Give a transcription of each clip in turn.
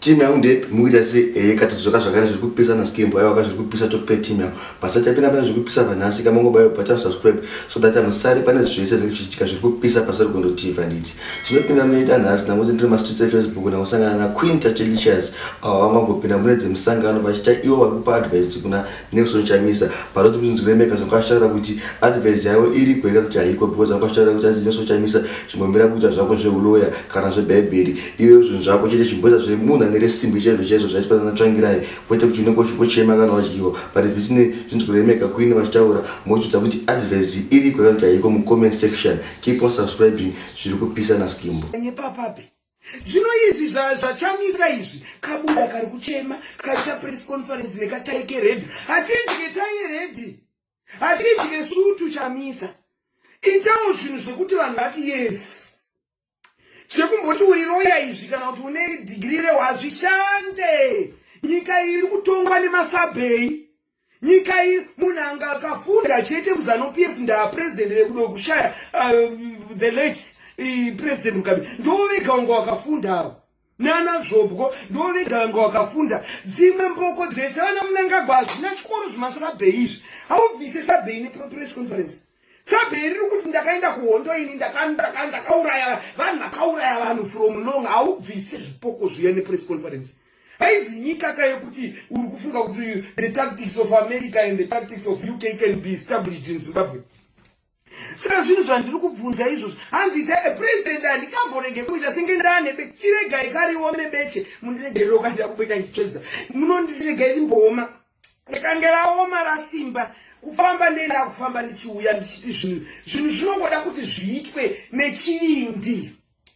team yangu ndepi mukuita se eh kati dzoka zvakare zviri kupisa na skimbo ayo akazviri kupisa to pay team yangu basa chapina pana zviri kupisa pa nhasi kama ngoba yo bata subscribe so that I'm sorry pana zvese zviri kuchitika zviri kupisa pasa rugondo TV nditi tinopinda mune ita nhasi na ngozi ndiri ma streets Facebook na kusangana na Queen Tachelicious awo vanga ngopinda mune dzemusangano vachita iwo vari kupa advice kuna Nelson Chamisa panoti kuti Nzwiremeka zvanga achitaura kuti advice yavo iri kuhera kuti haiko because zvanga achitaura kuti hanzi Nelson Chamisa chimbomira kuita zvako zvehuloya kana zvebhaibheri iweyo zvinhu zvako chete chimboita zvemunhu ane resimbi chaizvo chaizvo zvaitwa nana Tsvangirai kwete kuti unenge uchingochema kana wadyiwa but zvisine zvinzwiremeka kuine vachitaura mochidza kuti advice iri kuhera kuti haiko mucomment section keep on subscribing zviri kupisa naskimbo Kanye papapi zvino izvi zvachamisa izvi kabuda kari kuchema kaita press conference nekataike redi hatidye taye redi hatidye sutu chamisa itawo zvinhu zvekuti vanhu vati yes zvekumboti uri roya izvi kana kuti une dhigiri rewazvishande nyika iyi iri kutongwa nemasabhei nyika iyi munhu anga akafunda achiite muzanu pf ndaa president vekudo kushaya uh, the late uh, president mugabe ndo vega wanga wakafunda avo nana zvobwo ndo vega vanga wakafunda dzimwe mboko dzese vana munangagwa hazvina chikoro zvemasabhei izvi haubvise sabhei nepress conference sabhei riri kuti ndakaenda kuhondo ini ndakauraya vanhu vakauraya vanhu from long haubvise zvipoko zviya nepress conference haizi nyika ka yekuti uri kufunga kuti the tactics of america and the tactics of uk can be established in zimbabwe saka zvinhu zvandiri kubvunza izvozvo hanzi ita a president handikamborege kuita senge ndane chiregai kariome beche mundiregerero kandida kumboita ndichedzisa munondiregai rimbooma rikange raoma rasimba kufamba ndenda kufamba ndichiuya ndichiti zvinhu zvinhu zvinongoda kuti zviitwe nechindi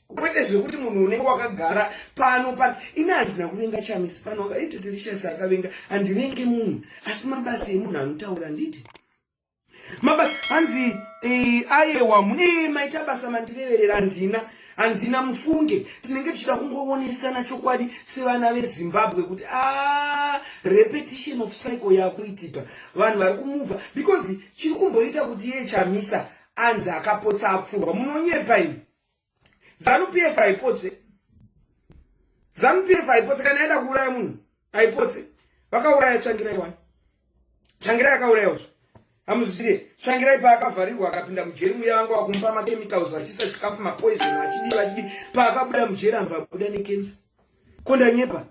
kwete zvekuti munhu unenge wakagara pano pano ini handina kuvenga chamisi pano akaiti tirishasi akavenga handivenge munhu asi mabasa emunhu anotaura nditi mabasa hanzi eh, ayewa mune maita basa mandireverera handina handina mufunge tinenge tichida kungovonesana chokwadi sevana vezimbabwe kuti a ah, repetition of cycle yakuitika vanhu vari kumubva because chiri kumboita kuti iye chamisa anzi akapotsa apfurwa munonyepa ini zanu pf haipotse zanu pf haipotse kana yaenda kuuraya munhu haipotse vakauraya tsvangirai wani tsvangirai akaurayawo zve hamuzvisiye tsvangirai paakavharirwa akapinda mujeri muya vanga wakumupa makemicals vachisa chikafu mapoison vachidii vachidii paakabuda mujeri anva abuda nekensa ko ndanyepa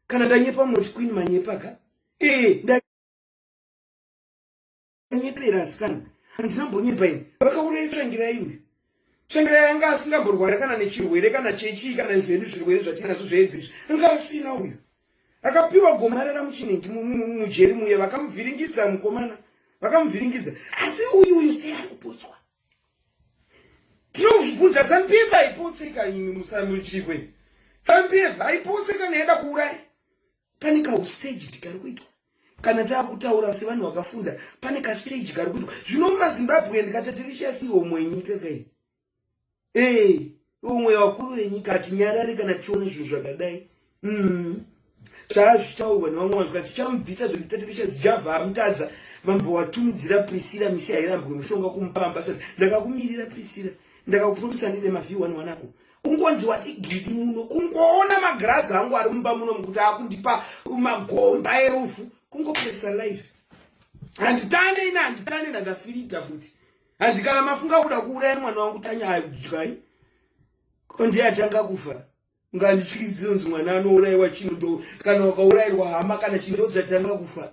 kana ndanyepa munoti queen manyepa ka ee nyepera asikana handina mbonyepa ini vakauraya tsvangira iwe tsvangira yanga asingamborwara kana nechirwere kana chechii kana zvedu zvirwere zvatinazvo zveedzi izvi anga asina uyo akapiwa gomarara muchinengi mujeri muye vakamuvhiringidza mukomana vakamuvhiringidza asi uyu uyu sei ari kupotswa tinozvibvunza sampf aipotseka imi musamuchikwe sampf aipotseka naida kuuraya pane kaustage tikari kuitwa kana taakutaura sevanhu vakafunda pane kastage kari kuitwa zvino mazimbabwe ndikati tirichasi homwe yenyika kai ee homwe yevakuru venyika hatinyarari kana tichiona zvinhu zvakadai mm. zvaa zvichitaurwa nevamwe vanhu kati tichamubvisa zvekuti tatirichasi javha amutadza vamva watumidzira prisira misi hairambwe mushonga kumupa ambasada ndakakumirira prisira ndakakupromisa ndine mavhi one wanako kungonzi wati gidi muno kungoona magirazi angu ari mumba muno mukuti akundipa magomba erufu kungopesa life handitande ina handitande ndandafirita futi handi kana mafunga kuda kuuraya mwana wangu tanya adyai ko ndiye atanga kufa ngandityiziro nzi mwana anourayiwa chino ndo kana wakaurayirwa hama kana chindodzatanga kufa